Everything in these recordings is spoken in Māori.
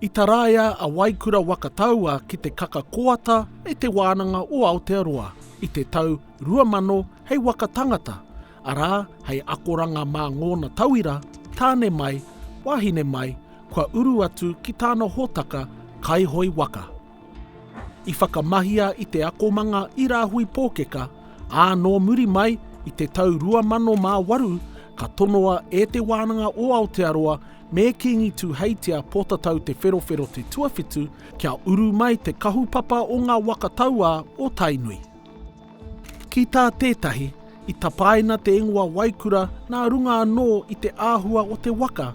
I taraia a Waikura waka taua ki te kaka koata e Te Wānanga o Aotearoa i te tau 2000 hei waka tangata, arā hei akoranga mā ngōna tauira, tāne mai, wāhine mai, kua uru atu ki tāna hōtaka kaihoe waka. I whakamahia i te akomanga i Rāhui Pōkeka, ā, nō muri mai, i te tau 2008, ka tonoa e Te Wānanga o Aotearoa me Kīngi Tūheitia Pōtatau Te Wherowhero Te Tuawhitu kia uru mai te kahupapa o ngā waka tauā o Tainui. Ki tā tētahi, i tapaina te ingoa Waikura nā runga anō i te āhua o te waka,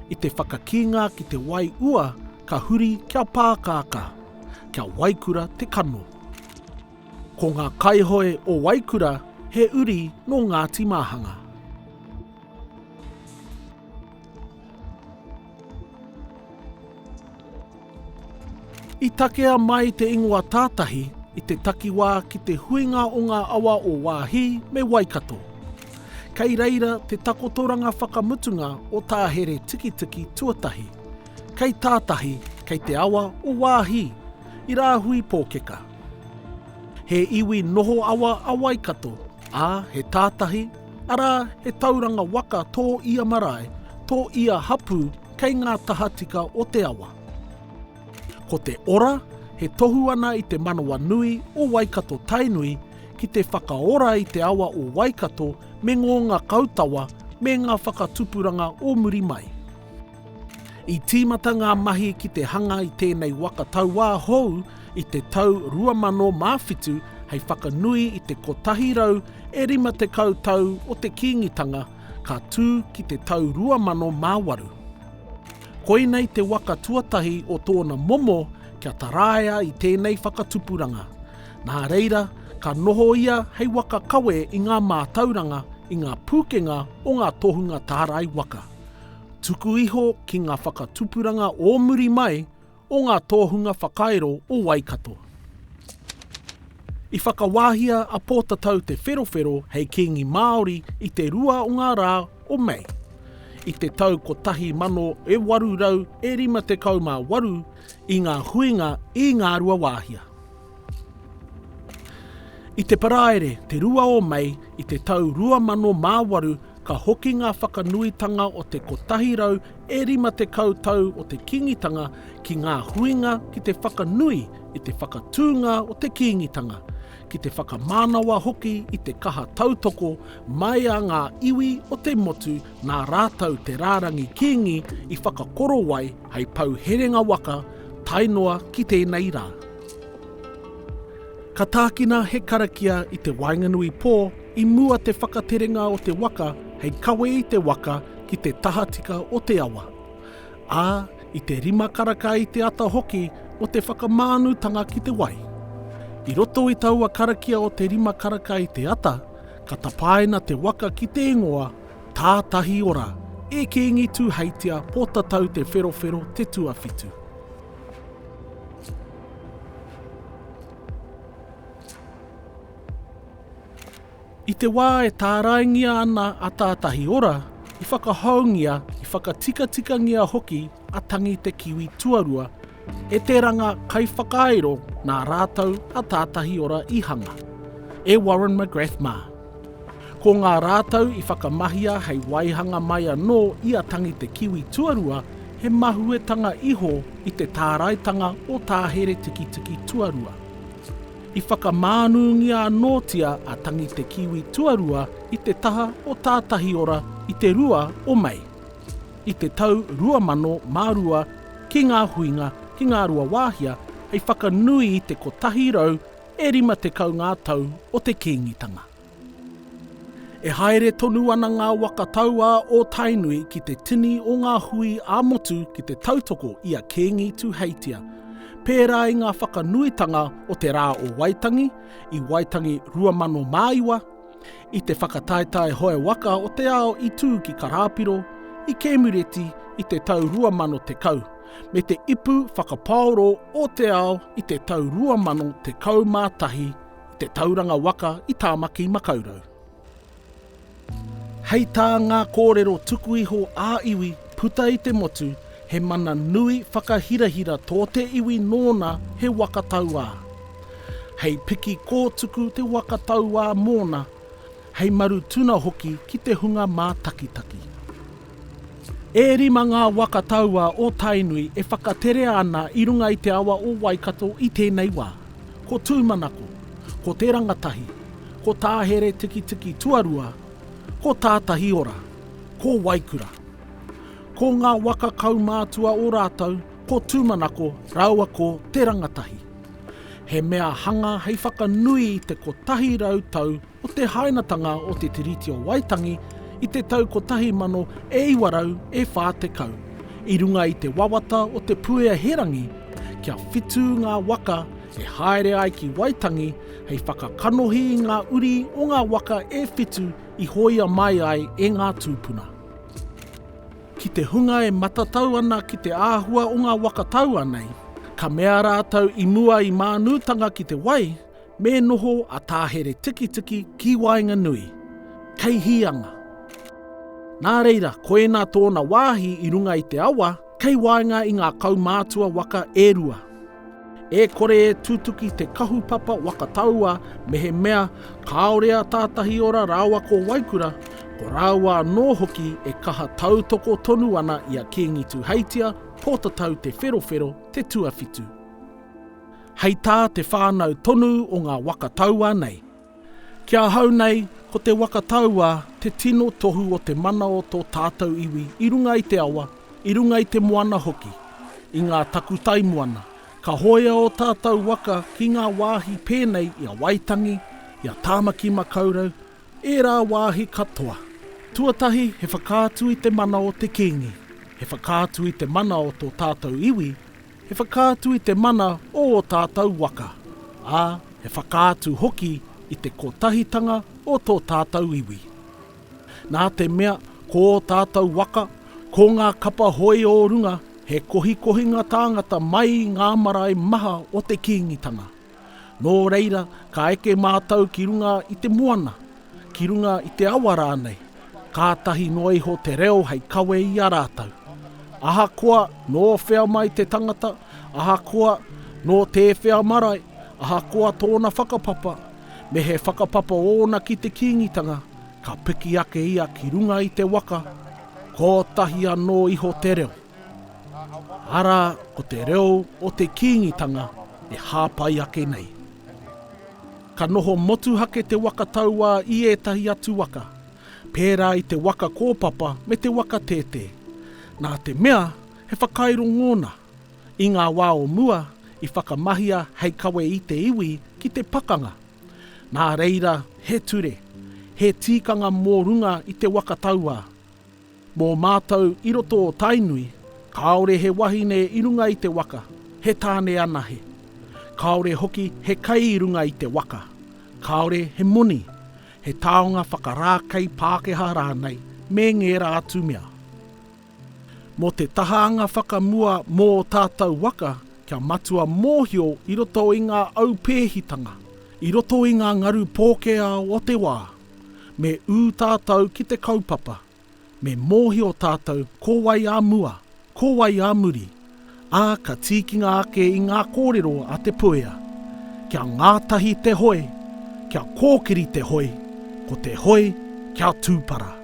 i te whakakīnga ki te wai ua ka huri kia pākākā, kia waikura te kano. Ko ngā kaihoe o Waikura he uri nō Ngāti Māhanga. I takea mai te ingoa Tātahi i te takiwā ki te huinga o ngā awa o Wāhi me Waikato. Kei reira te takotoranga whakamutunga o tā here tikitiki tuatahi, kei Tātahi, kei te awa o Wāhi, i Rāhui Pōkeka. He iwi noho awa a Waikato, ā, he Tātahi, Arā, he tauranga waka tō ia marae, tō ia hapū kei ngā tahatika o te awa. Ko te ora, he tohu ana i te manawa nui o Waikato Tainui ki te whakaora i te awa o Waikato me ngō ngakau tawa me ngā whakatupuranga o muri mai. I tīmata ngā mahi ki te hanga i tēnei waka tauā hou i te tau 2007 hei whakanui i te 100 e 50 tau o te Kīngitanga ka tū ki te tau 2008. Koinei te waka tuatahi o tōna momo kia taraia i tēnei whakatupuranga. Nā reira, ka noho ia hei waka kawe i ngā mātauranga, i ngā pūkenga o ngā tohunga tārai waka. Tuku iho ki ngā whakatupuranga o muri mai o ngā tōhunga whakairo o Waikato. I whakawāhia a Pōtatau Te Wherowhero hei Kīngi Māori i te rua o ngā rā o Mei. I te tau 1858 i ngā huinga i Ngāruawāhia. I te Paraire, te 2 o Mei i te tau 2008 ka hoki ngā whakanuitanga o te 150 tau o te Kīngitanga ki ngā huinga ki te whakanui i te whakatūnga o te Kīngitanga, ki te whakamānawa hoki i te kaha tautoko mai a ngā iwi o te motu nā rātou te rārangi Kīngi i whakakorowai Hei pou herenga waka tae noa ki tēnei rā. Ka tākina he karakia i te waenganui pō i mua te whakaterenga o te waka hei kawe i te waka ki te tahatika o te awa, ā, i te rima karaka i te ata hoki o te whakamānutanga ki te wai. I roto i taua karakia o te rima karaka i te ata, ka tapaina te waka ki te ingoa Tātahi ora, e Kīngi Tūheitia, Pōtatau Te Wherowhero te tuawhitu. I te wā e tāraingia ana a Tātahi ora, i whakahoungia, i whakatikatikangīa hoki a Tangi Te Kiwi Tuarua e te ranga kaiwhakairo nā rātou a Tātahi Ora i hanga, e Warren McGrath mā. Ko ngā rātou i whakamahia hei waihanga mai anō i a Tangi Te Kiwi Tuarua he mahuetanga iho i te tāraitanga o Tā Heretikitiki Tuarua. I whakamānūngia anōtia a Tangi Te Kiwi Tuarua i te taha o Tātahi Ora i te 2 o Mei. i te tau 2002 ki ngā huinga, ki Ngāruawāhia, hei whakanui i te 100 e 50 ngā tau o te Kīngitanga. E haere tonu ana ngā waka tauā o Tainui ki te tini o ngā hui ā-motu ki te tautoko i a Kīngi Tuheitia, pērā i ngā whakanuitanga o te Rā o Waitangi, i Waitangi 2009, I te whakataetae hoe waka o te ao i tū ki Karāpiro, i Kēmureti i te tau 2010, me te ipu whakapaoro o te ao i te tau 2011 i te tauranga waka i Tāmaki Makaurau. Hei tā ngā kōrero tuku iho ā-iwi puta i te motu, He mana nui whakahirahira tō te iwi nōna he waka tauā. Hei piki kōtuku te waka tauā mōna, hei maru tuna hoki ki te hunga mātakitaki. E rima ngā waka tauā o Tainui e whakaterea ana i runga i te awa o Waikato i tēnei wā. Ko Tūmanako, ko Te Rangatahi, ko Tāheretikitiki Tuarua, ko Tātahiora, ko Waikura. Ko ngā waka kaumātua o rātou ko Tūmanako rāua ko Te Rangatahi. He mea hanga hei whakanui i te 100 tau o te hainatanga o Te Tiriti o Waitangi i te tau 1940, i runga i te wawata o Te Puea Herangi kia whitu ngā waka e haere ai ki Waitangi hei whakakanohi i ngā uri o ngā waka e whitu i hoia mai ai e ngā tūpuna. Ki te hunga e matatau ana ki te āhua o ngā waka taua nei, ka mea rātou i mua i mānūtanga ki te wai, me noho a Tā Heretikitiki ki waenganui. Kei hīanga. Nā reira, ko ēnā tōna wāhi i runga i te awa, Kei waenga i ngā kaumātua waka e rua, e kore e tutuki te kahupapa waka taua mehemea kāore a Tātahiora rāua ko Waikura, ko rāua anō hoki e kaha tautoko tonu ana i a Kīngi Tūheitia, Pōtatau Te Wherowhero, te tuawhitu. Hei tā te whānau tonu o ngā waka taua nei. Ki ahau nei, ko te waka tauā te tino tohu o te mana o tō tātou iwi i runga i te awa, i runga i te moana hoki, i ngā takutai moana. Ka hōia ō tātou waka ki ngā wāhi pēnei i a Waitangi, i a Tāmaki Makaurau, ērā wāhi katoa. Tuatahi he whakaatu i te mana o te Kīngi, he whakaatu i te mana o tō tātou iwi He whakaatu i te mana o ō tātou waka, ā, he whakaatu hoki i te kotahitanga o tō tātou iwi. Nā te mea ko ō tātou waka, ko ngā kapa hoi ō runga, he kohikohinga tāngata mai i ngā marae maha o te Kīngitanga. Nō reira, ka eke mātou ki runga i te moana, Ki runga i te awa rānei, kātahi noa iho te reo hei kawe i a rātou. Ahakoa nō whea mai te tangata, ahakoa nō tēwhea marae, ahakoa tōna whakapapa, me he whakapapa ōna ki te Kīngitanga, ka piki ake ia ki runga i te waka, kōtahi anō iho te reo. Arā, ko te reo o te Kīngitanga e hāpai ake nei. Ka noho motuhake te waka tauā i ētahi atu waka, pērā i te waka kōpapa me te waka tētē. Nā te mea, he whakairo ngōna. I ngā wā o mua, i whakamahia hei kawe i te iwi ki te pakanga. Nā reira, he ture, he tīkanga mō runga i te waka tauā. Mō mātou i roto o Tainui, kāore he wahine i runga i te waka, he tāne anahe. Kāore hoki he kai i runga i te waka. Kāore he moni, he taonga whakarākei Pākehā rānei me ngērā atu mea. Mō te tahaanga whakamua mō ō tātou waka, kia matua mōhio i roto i ngā aupēhitanga, i roto i ngā ngaru pōkēao o te wā. Me ū tātou ki te kaupapa, me mōhio tātou ko wai ā mua, ko wai ā muri, ā, ka tīkinga ake i ngā kōrero a Te Puea. Kia ngātahi te hoe, kia kōkiri te hoe, ko te hoe kia tūpara.